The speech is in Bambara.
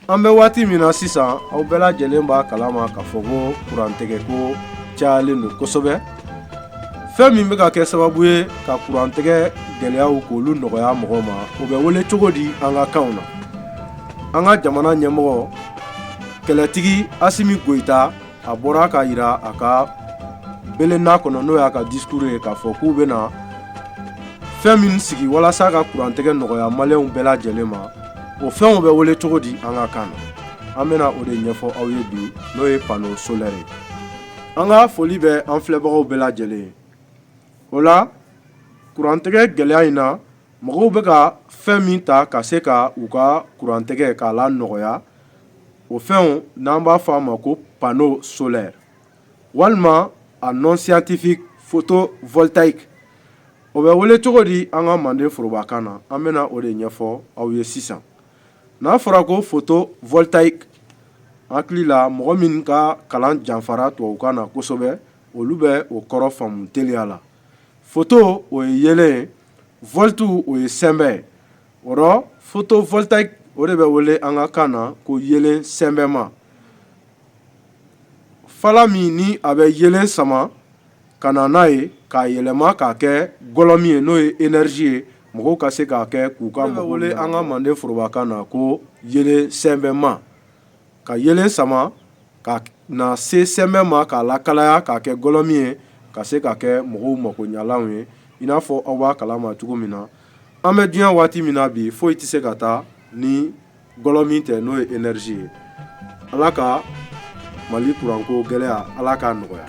an bɛ waati min na sisan aw bɛɛ lajɛlen b'a kalama k'a fɔ ko kurantɛgɛ ko cayalen don kosɛbɛ fɛn min bɛ ka kɛ sababu ye ka kurantɛgɛ gɛlɛyaw k'olu nɔgɔya mɔgɔw ma o bɛ wele cogo di an ka kanw na an ka jamana ɲɛmɔgɔ kɛlɛtigi asimi goyita a bɔra k'a yira a ka belenna kɔnɔ n'o y'a ka discours ye k'a fɔ k'u bɛna fɛn min sigi walasa ka kurantigɛ nɔgɔya maliyɛnw bɛɛ lajɛlen ma o fɛnw bɛ wele cogo di an ka kan na an bɛna o de ɲɛfɔ aw ye bi n'o ye panneau solaire ye an ka foli bɛ an filɛbagaw bɛɛ lajɛlen ye o la kurantigɛ gɛlɛya in na mɔgɔw bɛ ka fɛn min ta ka se ka u ka kurantigɛ k'a la nɔgɔya o fɛnw n'an b'a fɔ a ma ko panneau solaire walima a nom scientifique photovoltaïque o bɛ wele cogo di an ka manden forobakan na an bɛna o de ɲɛfɔ aw ye sisan n'a fɔra ko photovoltaïque hakili la mɔgɔ min ka kalan janfara tubabukan na kosɛbɛ olu bɛ o kɔrɔ faamu teliya la photo o ye yelen ye volt o ye sɛnbɛ ye o rɔ photovoltaïque o de bɛ wele an ka kan na ko yelen sɛnbɛma fala min ni a bɛ yelen sama ka na n'a ye k'a yɛlɛma k'a kɛ gɔlɔmin ye n'o ye énergie ye mɔgɔw ka se k'a kɛ k'u ka an ka manden forobakan na ko yelen sɛnbɛma ka yelen sama ka na se sɛnbɛ ma k'a lakalaya k'a kɛ gɔlɔmin ye ka se ka kɛ mɔgɔw makoɲalanw ye i n'a fɔ aw b'a kalama cogo min na an bɛ diɲɛ waati min na bi foyi tɛ se ka taa ni gɔlɔmin tɛ n'o ye énergie ye ala ka mali kuranko gɛlɛya ala k'a nɔgɔya